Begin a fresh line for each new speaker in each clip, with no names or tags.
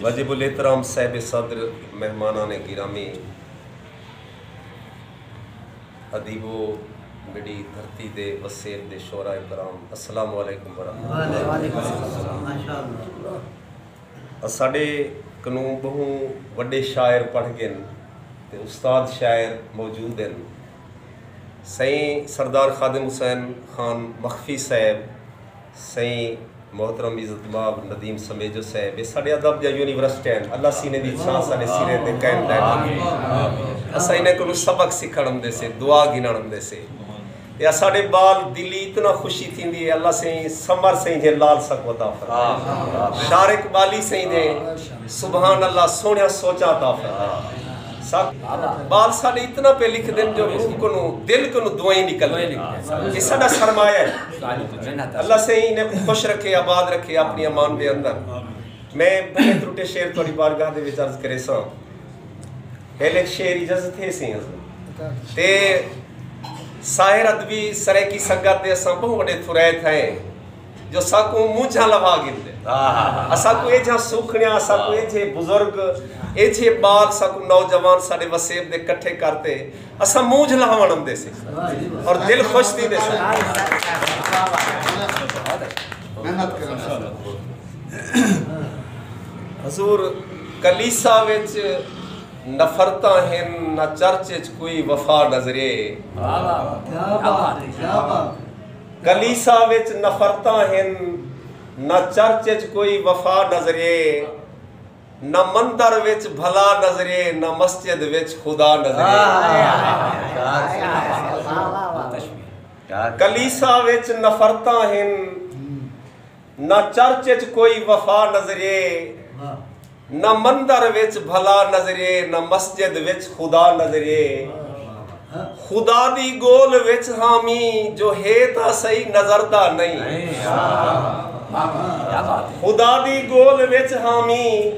واجب الاحترام صاحب صدر، مہمانان گرامی، ادیبو، میݙی دھرتی دے وسیب دے شعراء کرام السلام علیکم ورحمۃ اللہ۔ اساݙے کنوں ٻہوں وݙے شاعر پڑھ ڳن تے استاد شاعر موجود ہن۔ سئیں سردار خادم حسین خان مخفی صاحب، سئیں محترم عزت مآب ندیم سمیجو صاحب اے ساڈے ادب دیاں یونیورسٹیاں اللہ سینے دی چھاں ساڈے سریں تے قائم دائم رکھے اساں انہاں کولوں سبق سکھن اوندے سے دعا گھنن اوندے سے تے اساڈے بال دلی اتنا خوشی تھیندی اے اللہ سئیں سمر سئیں جھے لال سکو عطا فرمائے شار اقبالی سئیں دے سبحان اللہ سوہنیاں سوچاں عطا فرمائے۔ سک بال ساڈے اتنا پہ لکھ دن جو روح کنوں دل کنوں دوئیں نکل دے یہ ساڈا سرمایہ ہے اللہ سائیں انہیں کو خوش رکھے آباد رکھے اپنی امان دے اندر میں بھلے ترٹے شعر تھوڑی بارگاہ دے وچ عرض کرے ساں ہیل ایک شعر اجازت ہے سی تے ساحر ادبی سرے کی سنگت دے اساں بہوں وڈے تھرے تھے جو ساکوں مونجھاں لوا گھندے اساکوں ایجھا سوکھنیا اساکوں ایجھے بزرگ ایجھے بال ساکوں نوجوان ساڈے وسیب دے کٹھے کرتے اسا مونجھ لہاون اندے سے اور دل خوش تھی دے سے حضور کلیسا وچ نفرتا ہیں نہ چرچ وچ کوئی وفا نظرے کلیساں وچ نفرتاں ہن، نہ چرچ وچ کوئی وفا نظریے، نہ مندر وچ بھلا نظریے، نہ مسجد وچ خدا نظریے۔ کلیساں وچ نفرتاں ہن۔ نہ چرچ اچ کوئی وفا نظرے نہ مندر وچ بھلا نظرے نہ مسجد وچ خدا نظرے خدا دی گول وچ ہاں می جو ہے تاں سہی نظر دا نئیں خدا دی گول وچ ہاں می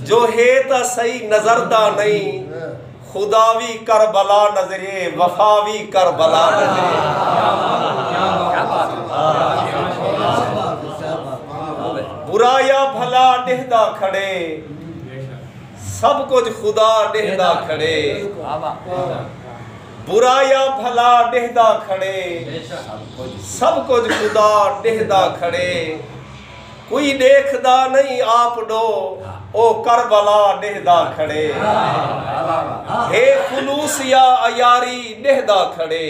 جو ہے تاں سہی نظر دا نئیں خدا وی کربلا نظرے وفا وی کربلا نظرےبرا یا بھلا ڈہدا کھڑے سب کجھ خدا ڈہدا کھڑے برا یا بھلا ڈہدا کھڑے سب کجھ خدا ڈہدا کھڑے کوئی ݙیکھدا نئیں آپ ݙو او کربلا ݙیہدا کھڑے ہے خلوص یا عیاری ݙیہدا کھڑے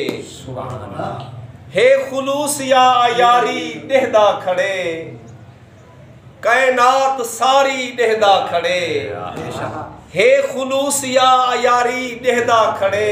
ہے خلوص یا عیاری ݙیہدا کھڑے کائنات ساری ݙیہدا کھڑے ہے خلوص یا عیاری ݙیہدا کھڑے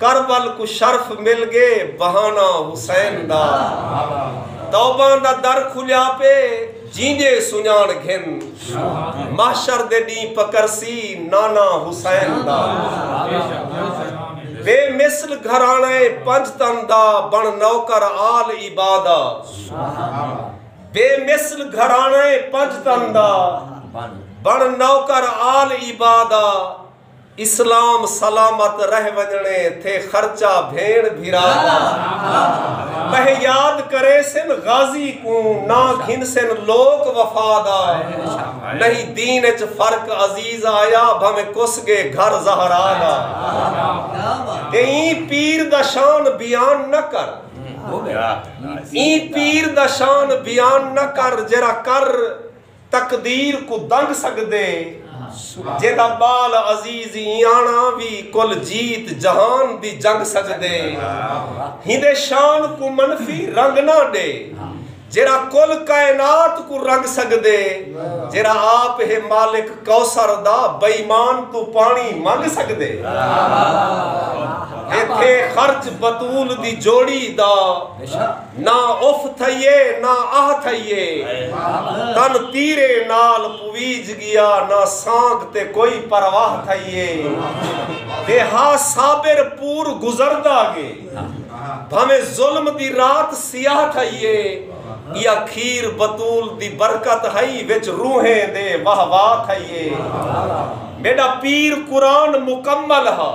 کربل کوں شرف مل گے بہانہ حسین دا توباں دا در کھلیا پے جینجے سنجاݨ گھن محشر دے ݙینہہ پکرسی نانا حسین دا بے مثل گھراݨہ اے پنج تن دا بݨ نوکر آل عبا دا بے مثل گھراݨہ اے پنج تن دا بݨ نوکر آل عبا دا اسلام سلامت رہ ونجنڑے تھے خرچہ بھینڑ بھرا دا پہہ یاد کریسن غازی کوں نہ گھنسن لوک وفا دا نہیں دین اچ فرق عزیز آیا بھویں کس گے گھر زہرا دا کہ ایں پیر دا شان بیان نہ کر ایں پیر دا شان بیان نہ کر جیرھا کر تقدیر کوں دنگ سگدے جیندا بال عزیز ایانا وی کل جیت جہان دی جنگ سگدے ہیندے شان کوں منفی رنگ نہ ڈے جیرا کل کائنات کوں رنگ سگدے جیرا آپ ہے مالک کوثر دا بئیمان توں پانی منگ سگدے ایتھے خرچ بتول دی جوڑی دا نہ اف تھئیے نہ آہ تھئیے تن تیرے نال پویج گیا نہ سانگ تے کوئی پرواہ تھئیے تے ہا صابر پور گزردا گے بھاویں ظلم دی رات سیاہ تھئیے یا کھیر بتول دی برکت ہئی وچ روحیں دے واہ واہ تھئیے میڈا پیر قرآن مکمل ہا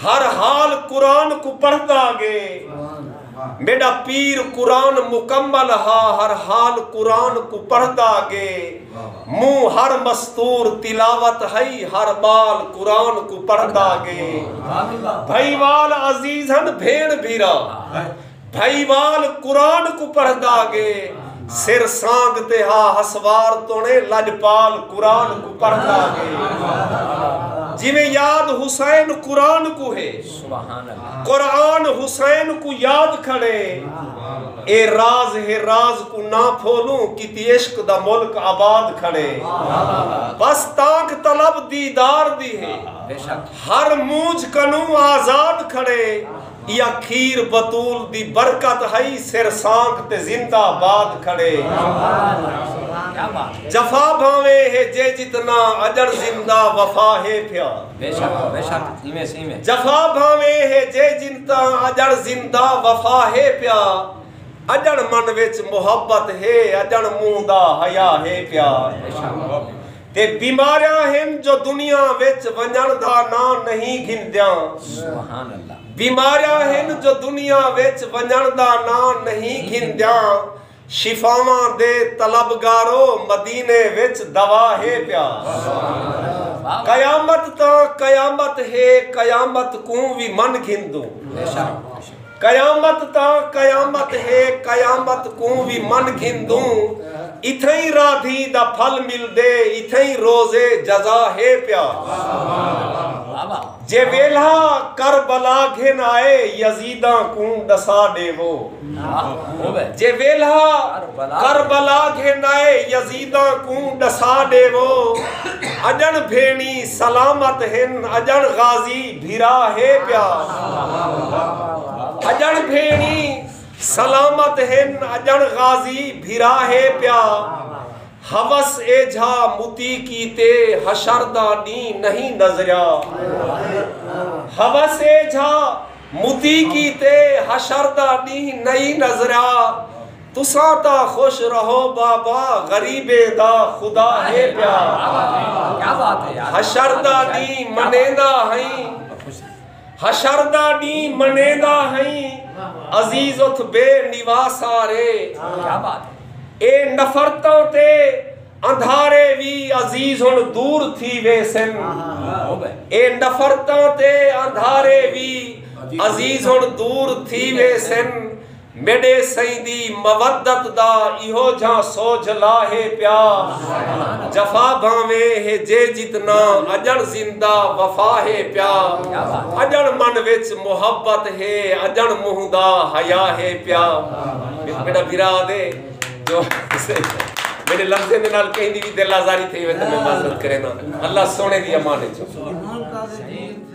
ہر حال قرآن کوں پڑھدا گے میݙا پیر قرآن مکمل ہا ہر حال قرآن کوں پڑھدا گے منہ ہر مستور تلاوت ہئی ہر ٻال قرآن کوں پڑھدا گے بھئی وال عزیز ہن بھیݨ بھیرا بھئی وال قرآن کوں پڑھدا گے سر سانگ تے ہا ہسوار توڑے لجپال قرآن کوں پڑھدا گے جویں یاد حسین قرآن کوں ہے قرآن حسین کو یاد کھڑے اے راز ہے راز کو نہ پھولوں کیتی عشق دا ملک آباد کھڑے بس تانک طلب دیدار دی ہے ہر مونجھ کنوں آزاد کھڑے یا کھیر بطول دی برکت ہائی سر سانک تے زندہ باد کھڑے جفا بھاویں ہے جے جتنا اجر زندہ وفا ہے پھیا بے شک بے شک ایویں سی میں۔ جفا بھانویں ہے جے جن تاں اجڑ زندہ وفا ہے پیا اجڑ من وچ محبت ہے اجڑ منہ دا حیا ہے پیا تے بیماریاں ہن جو دنیا وچ ونجن دا ناں نہیں گھندیاں بیماریاں ہن جو دنیا وچ ونجن دا ناں نہیں گھندیاں شفاواں دے طلبگارو مدینے وچ دوا ہے پیا قیامت تاں قیامت ہے قیامت کوں وی من گھندوں قیامت تاں قیامت ہے قیامت کوں وی من گھندوں اتھئیں رادھی دا پھل ملدے اتھئیں روز جزا ہے پیا جے ویلھا کربلا گھن آئے یزیداں کوں ڈسا ڈیوو جے ویلھا کربلا گھن آئے یزیداں کوں ڈسا ڈیوو اجنڑ بھینڑی سلامت ہن اجنڑ غازی بھرا ہے پیا اجنڑ بھینڑی سلامت ہن اجنڑ غازی بھرا ہے پیا حوس ایجھا متی کیتے حشر دا ݙینہ نئیں نظریا حوس ایجھا متی کیتے حشر دا ݙینہ نئیں نظریا تساں تاں خوش رہو بابا غریبیں دا خدا ہے پیا حشر دا ݙینہ منیندا ہئیں حشر دا ڈینہہ منیندا ہئیں عزیز اتھ بے نواسارے اے نفرتاں تے اندھارے وی عزیز ہن دور تھی ویسن اے نفرتاں تے اندھارے وی عزیز ہن دور تھی ویسن میݙے سئیں دی مودت دا ایہو جھاں سوجھ لا ہے پیا جفا بھانویں ہے جے جتنا اڄݨ زندہ وفا ہے پیا اڄݨ من وچ محبت ہے اڄݨ منہ دا حیا ہے پیا میݙا بھرا آدھے جو میݙے لفظیں دے نال کہیں دی وی دل آزاری تھئی ہوے تے میں معذرت کرینداں اللہ سونے دی امان وچ